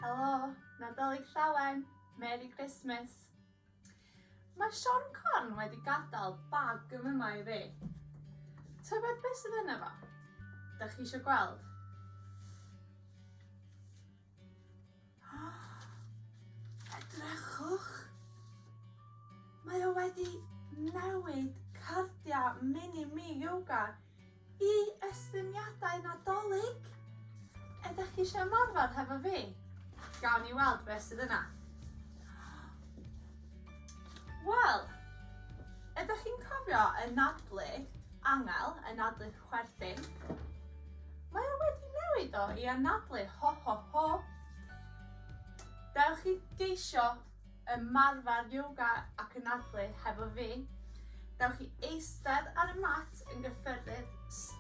Helo, Nadolig Llawen, Merry Christmas. Mae Sean Corn wedi gadael bag yn yma i fi. Tybed beth sydd yna fo? Da chi eisiau gweld? Edrychwch! Mae o wedi newid cardiau Mini Me Yoga i estyniadau Nadolig! Ydych chi eisiau ymarfer hefo fi? Gawn ni weld beth sydd yna. Wel, ydych chi'n cofio y nadlu angel, y nadlu Chwerthin. Mae o wedi newid o i anadlu ho ho ho. Dewch i geisio ymarfer yoga ac anadlu hefo fi. Dewch i eistedd ar y mat yn gyffyrddyd,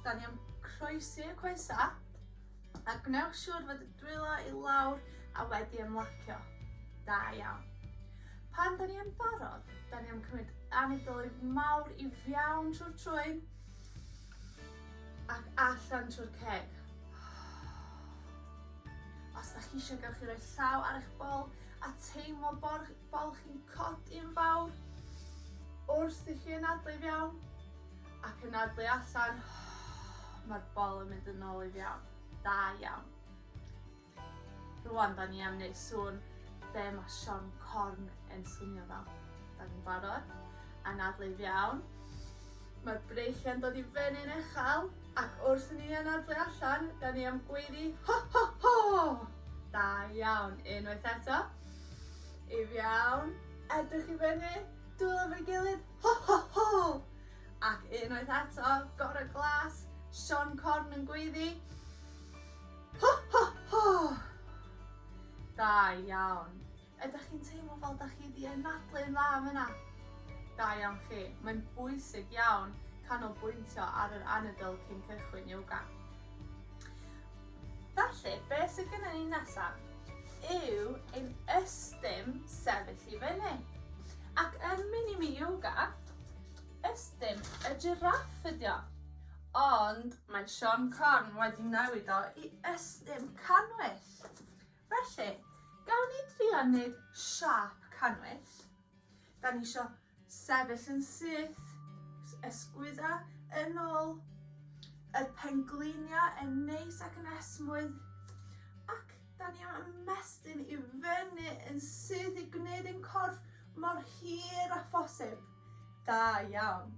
'dan ni am croesi y coesa, a gwnewch siŵr fod y dwylo i lawr a wedi ymlacio. Da iawn. Pan 'dan ni yn barod, 'dan ni am cymryd anadlu mawr i fiawn trw'r trwyn, Ac allan trwy'r ceg. Os 'dach chi isio gewch chi roi llaw ar eich bol a teimlo bo'r bol chi'n codi'n fawr wrth i chi anadlu i fewn ac anadlu allan. Ma'r bol yn mynd yn ôl i fewn. Da iawn. Rwan da ni am neud sŵn be ma Sion Corn yn swnio fel. Da ni'n barod? Anadlu'n iawn. Mae'r breichiau'n dod i fyny'n uchel ac wrth i ni anadlu allan da ni am gweiddi ho ho ho! Da iawn, unwaith eto. If iawn. Edrych i fyny, dwylo efo'i gilydd ho ho ho! Ac unwaith eto, gore glas, Sion Corn yn gweiddi. Ho ho ho! Da iawn. Ydach chi'n teimlo fel 'dach chi 'di anadlu'n dda yn fan 'na? Da iawn chi. Mae'n bwysig iawn canolbwyntio ar yr anadl cyn cychwyn yoga. Felly, be' sy gynnon ni nesa yw ein ystum sefyll i fyny. Ac yn mini me yoga, ystum y jiráff ydi o. Ond mae Sian Corn wedi newid o i ystum canwyll. Felly, gawn ni drio wneud siap canwyll. Da ni eisiau sefyll yn syth, ysgwydda yn ôl, y pengliniau yn neis ac yn esmwyth, ac da ni am ymestyn i fyny yn syth i gwneud ein corff mor hir a phosib. Da iawn.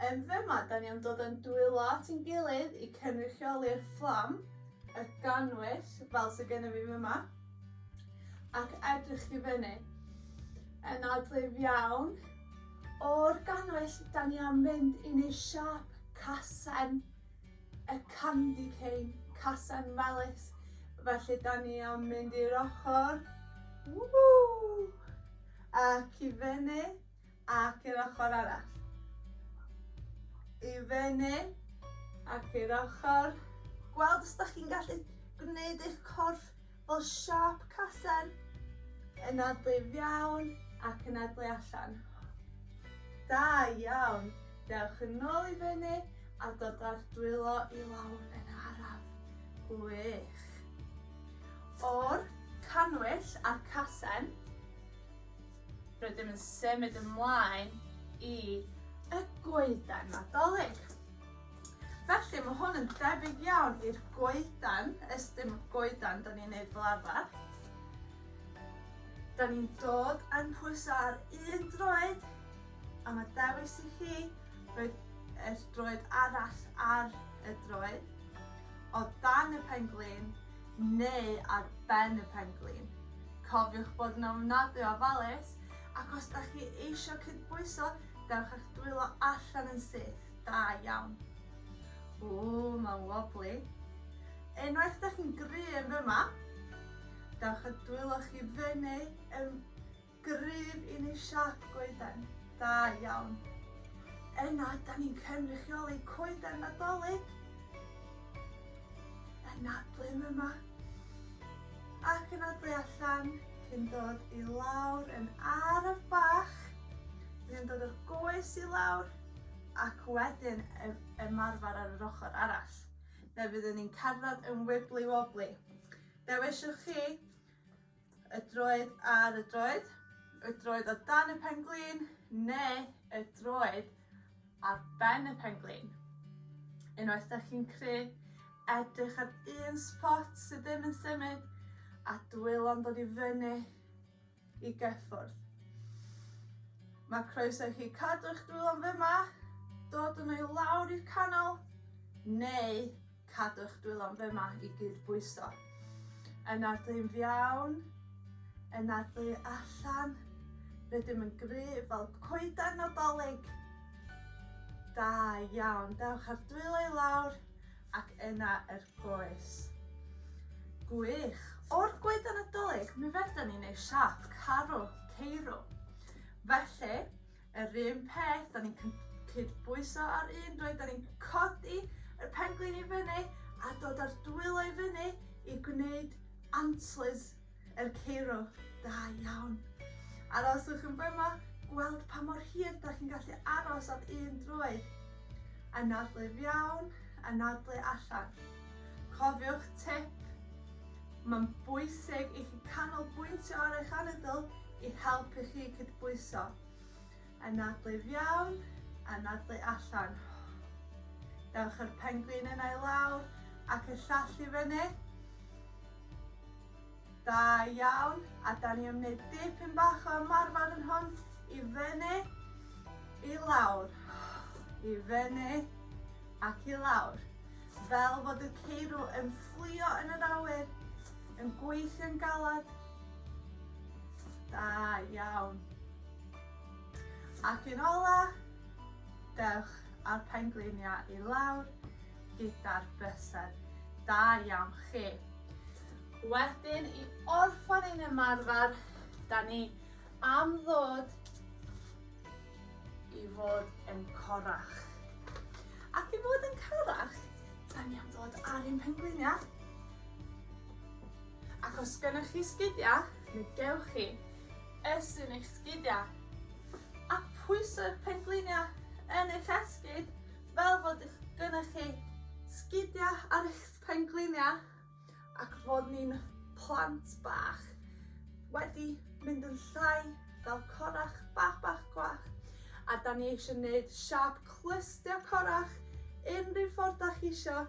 Yn fyma, da ni am dod yn dwylo at ein gilydd i cynrychioli'r fflam, y gannwyll, fel sy gynno fi fyma, ac edrych i fyny. Yn adlif iawn. O'r gannwyll, da ni am fynd i neu' siâp casen, y candy cane, casen melys, felly da ni am mynd i'r ochor, ww, ac i fyny. ac i'r ochr arall. I fyny ac i'r ochr. Gweld os da chi'n gallu gwneud eich corff fel siâp casen. Yn adlu fiawn ac yn adlu allan. Da iawn. Dewch yn ôl i fyny a dod ar dwylo i lawr yn araf. Gwych. O'r canwyll a'r casen, Rydym yn symud ymlaen i y goeden Nadolig. Felly mae hwn yn debyg iawn i'r goeden, ys dim goeden da ni'n neud fel arfer. Da ni'n dod yn pwyso ar un droed a mae dewis i chi roed y droed arall ar y droed o dan y pen-glin neu ar ben y pen-glin. Cofiwch bod yn ofnadwy o ofalus ac os da chi eisiau cydbwyso, dewch a'ch dwylo allan yn syth, da iawn. Ww, mae'n wobbly. Unwaith da chi'n gryf yma, dewch a dwylo chi fyny yn Gryf i ni siap goeden. Da iawn. Yna, da ni'n cynrychioli coeden Nadolig yn nadlu'n yma ac yn nadlu allan cyn dod i lawr yn araf bach. Dyn ni'n dod o'r goes i lawr ac wedyn ymarfer ar yr ochr arall. Fe fyddwn ni'n cerdded yn wibli wobli. Be' wisiwch chi? Y droed ar y droed, y droed o dan y penglin neu y droed ar ben y penglin. Unwaith da chi'n cry, edrych ar un spot sydd ddim yn symud a dwylo'n dod i fyny i gyffwrdd. Mae croeso i chi cadw'ch dwylo'n fyma, dod yn ei lawr i'r canol, neu Cadw'ch dwylo'n fy ma i gyd bwyso. Yna'r dyn fiawn, yna'r ddu allan, rydym yn gry fel coedan Nadolig. Da iawn, dewch ar dwylo i lawr ac yna yr goes. Gwych! O'r goedan Nadolig, mi fedrwn ni neud siâp carw, ceirw. Felly, Yr un peth, 'dan ni'n cyd- cydbwyso ar un dwy, 'dan ni'n codi yr penglin i fyny a dod â'r dwylo i fyny i gwneud antlers yr ceirw. Da iawn. Aroswch yn fyma, gweld pa mor hir 'dach chi'n gallu aros ar un droed. Anadlu i fewn, anadlu allan. Cofiwch tip Mae'n bwysig i chi canolbwyntio ar eich anadl i helpu chi cydbwyso. Anadlu i fewn, anadlu allan. Dewch â'r pengwin yna i lawr ac y llall i fyny. Da iawn, a da ni yn wneud dipyn bach o ymarfer yn hwn i fyny, i lawr, i fyny ac i lawr. Fel fod y ceirw yn fflio yn yr awyr, yn gweithio'n galed. Da iawn. Ac yn ola, dewch â'r pengliniau i lawr gyda'r bysedd. Da iawn chi. Wedyn, i orffan ein ymarfer, da ni am ddod i fod yn corach. Ac i fod yn corach, da ni am ddod ar un pengliniau. Ac os gennych chi sgidiau, mi gewch chi ysyn eich sgidiau. A pwyso'r pengliniau yn eich esgyd fel fod gennych chi sgidiau ar eich pengliniau. ac fod ni'n plant bach wedi mynd yn llai fel corach bach bach gwach a da ni eisiau gwneud siap clystio corach unrhyw ffordd da chi isio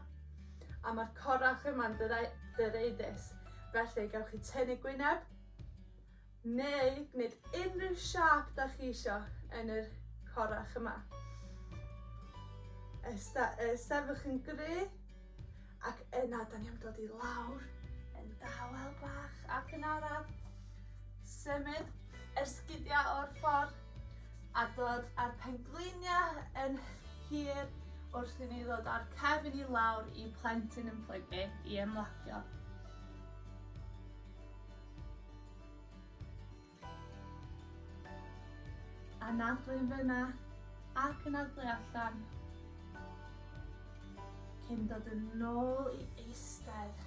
a mae'r corach yma'n dyreu, dyreidus felly gawch chi tynnu gwyneb neu gwneud unrhyw siâp da chi isio yn yr corach yma. Esta, sefwch yn gry, ac yna da ni am dod i lawr yn dawel bach ac yn araf. Symud yr sgidiau o'r ffordd a dod â'r pengliniau yn hir wrth i ni ddod â'r cefn i lawr i plentyn yn plygu i ymlacio. Anadlu yn fyna ac anadlu allan. Cyn dod yn nôl i eistedd.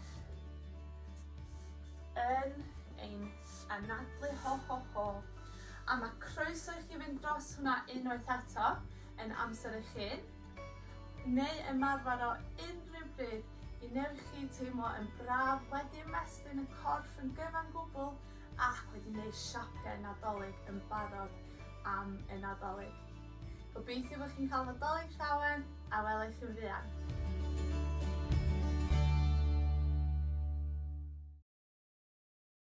Yn ein anadlu ho ho ho. A mae croeso i chi fynd dros hwnna unwaith eto yn amser eich hun. neu ymarfer o unrhyw bryd i wneud chi teimlo yn braf, wedi ymestyn y corff yn gyfan gwbl ac wedi gwneud siapiau Nadolig yn barod am y Nadolig. Gobeithio bod chi'n cael Nadolig llawen a welai chi'n fuan.